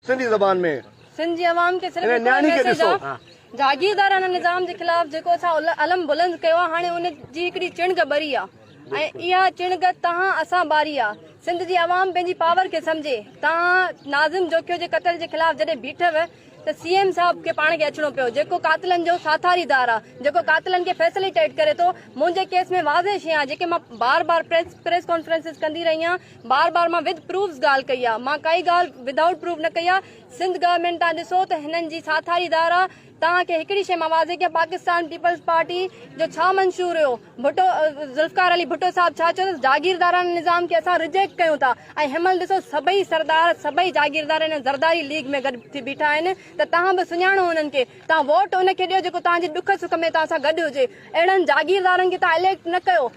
سنڌي زبان ۾. سنڌ جي عوام کي صرف هڪڙو ئي ميسيج آ جاگيردار ان نظام جي خلاف جيڪو اسان علم بلند ڪيو آ هاڻي ان جي هڪڙي چڻگ ٻري آ ۽ اها چڻگ توهان اسان ٻاري آ سنڌ جي عوام پنهنجي پاور کي سمجهي توهان ناظم جوکيو جي قتل جي خلاف جڏهن بيٺو ته سي ايم صاحب کي پاڻ کي اچڻو پيو جيڪو قاتلن جو ساٿاري دار آ جيڪو قاتلن کي فيسليٽيٽ ڪري ٿو منهنجي ڪيس ۾ واضح شي آ جيڪي مان بار بار پريس ڪانفرنسز ڪندي رهي آ بار بار مان وڌ پروفز ڳالهه ڪئي آ مان ڪائي ڳالهه وڌائوٽ پروف نه ڪئي آ سنڌ گورمينٽ تان ڏسو ته هنن جي ساٿاري ڌار آ توهان کي هڪڙي شئي مان واضح ڪيان پاڪستان پيپلز پارٽي جو ڇا منشور هيو ڀٽو ذوالفقار علي ڀٽو صاحب ڇا چيو ته جاگيردارانه نظام کي اسان رجيڪٽ ڪيون ٿا ۽ هنمهل ڏسو سڀئي سردار سڀئي جاگيردار هن زرداري ليگ ۾ گڏ ٿي بيٺا آهن ته توهان به سڃاڻو هنن کي توهان ووٽ ان کي ڏيو جيڪو توهان جي ڏک سک ۾ توهان سان گڏ هجي اهڙن جاگيردارن کي توهان اليڪٽ نه ڪيو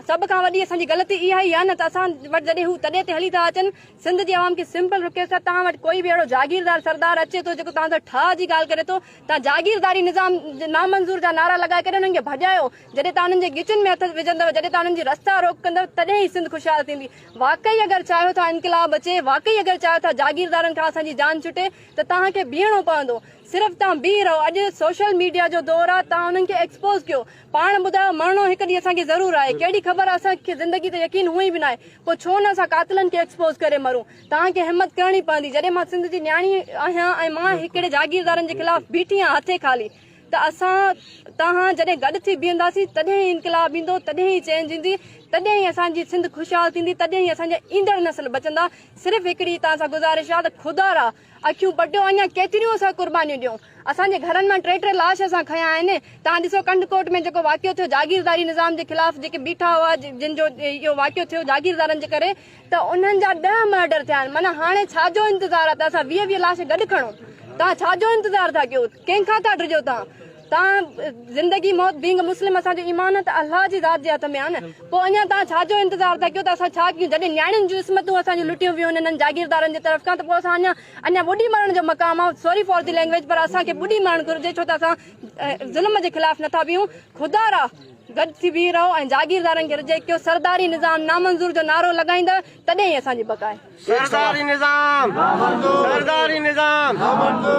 سڀ کان وڏي اسان جي غلطي اها ئي آهي نه ته اسان وٽ جڏهن هو تڏي تي هلي ٿا اچن سنڌ جي عوام کي سمپل رڪيس ٿا توهان وٽ ڪوئي به اهڙو جاگيردار سردار اچي ٿو جيڪو توهان سان ٺاهه جي ڳالهه ڪري ٿو توهان جاگيرداري نظام نامنظور جا نعرا لڳائي ڪري انهن کي ڀڄايو جڏهن توهان انهن جي ڳچن ۾ هٿ وجهندو جڏهن توهان انهن جي رستا روڪ ڪندو تڏهن ئي سنڌ خوشحال ٿيندي واقعي اگر چاهيو ٿا انقلاب اچي واقعي اگر چاهيو ٿا جاگيردارن کان اسان جي جان ڇٽي ته توهان کي بيهڻو پوندو صرف توهان بيهي رهو اڄ سوشل ميڊيا جو دور آهي توهان انهن کي ايڪسپوز ڪيو پاڻ ٻڌاء، مرڻو هڪ ڏينهن اسان کي ضرور آهي، ڪهڙي خبر اسان کي زندگي تي يقين هونئن به ناهي، پوء ڇو نه اسان قاتلن کي ايڪسپوز ڪري مرون. توهان کي همت ڪرڻي پوندي، جڏهن مان سنڌ جي نياڻي آهيان ۽ مان هڪڙي جاگيردارن جي خلاف بيٺي آهيان هٿين خالي، ته اسان توهان جڏهن گڏ ٿي بيهنداسين، تڏهن ئي انقلاب ايندو، تڏهن ئي چينج ايندي، تڏهن ئي اسان جي سنڌ خوشحال ٿيندي، تڏهن ئي اسان جا ايندڙ نسل بچندا، صرف هڪڙي توهان سان گذارش آهي ته خدارا! اکيون پٽيو اڃا ڪيتريون اسان قربانيون ڏيون اسان جي گهرن مان ٽي ٽي لاش اسان کنيا آهن توهان ڏسو ڪنڊ ڪوٽ ۾ جيڪو واقعو ٿيو جاگيرداري نظام جي خلاف جيڪي بيٺا هئا جن جو اهو واقعو ٿيو جاگيردارن جي ڪري ته انهن جا ڏهه مرڊر ٿيا آهن معنيٰ هاڻي ڇا جو انتظار آهي ته اسان ويهه ويهه لاش گڏ کڻون توهان ڇا جو انتظار ٿا ڪيو ڪنهن کان ٿا ڊڄو توهان تان زندگي موت بينگ مسلم اسان جو ايمان ته الله جي ذات جي هٿ ۾ آهي نه پوء اڃا تان ڇا جو انتظار ٿا ڪيو ته اسان ڇا ڪيون جڏهن نياڻين جون عصمتون اسان جون لٽيون ويون انهن جاگيردارن جي طرف کان ته پوء اسان اڃا اڃا ٻڏي مرڻ جو مقام آهي سوري فار دي لينگويج پر اسان کي ٻڏي مرڻ گهرجي ڇو ته اسان ظلم جي خلاف نٿا بيهون خدا را گڏ ٿي بيهي رهو ۽ جاگيردارن کي رجيڪٽ ڪيو سرداري نظام نامنظور جو نعرو لڳائيندا تڏهن ئي اسان جي بقا آهي سرداري نظام نامنظور سرداري نظام نامنظور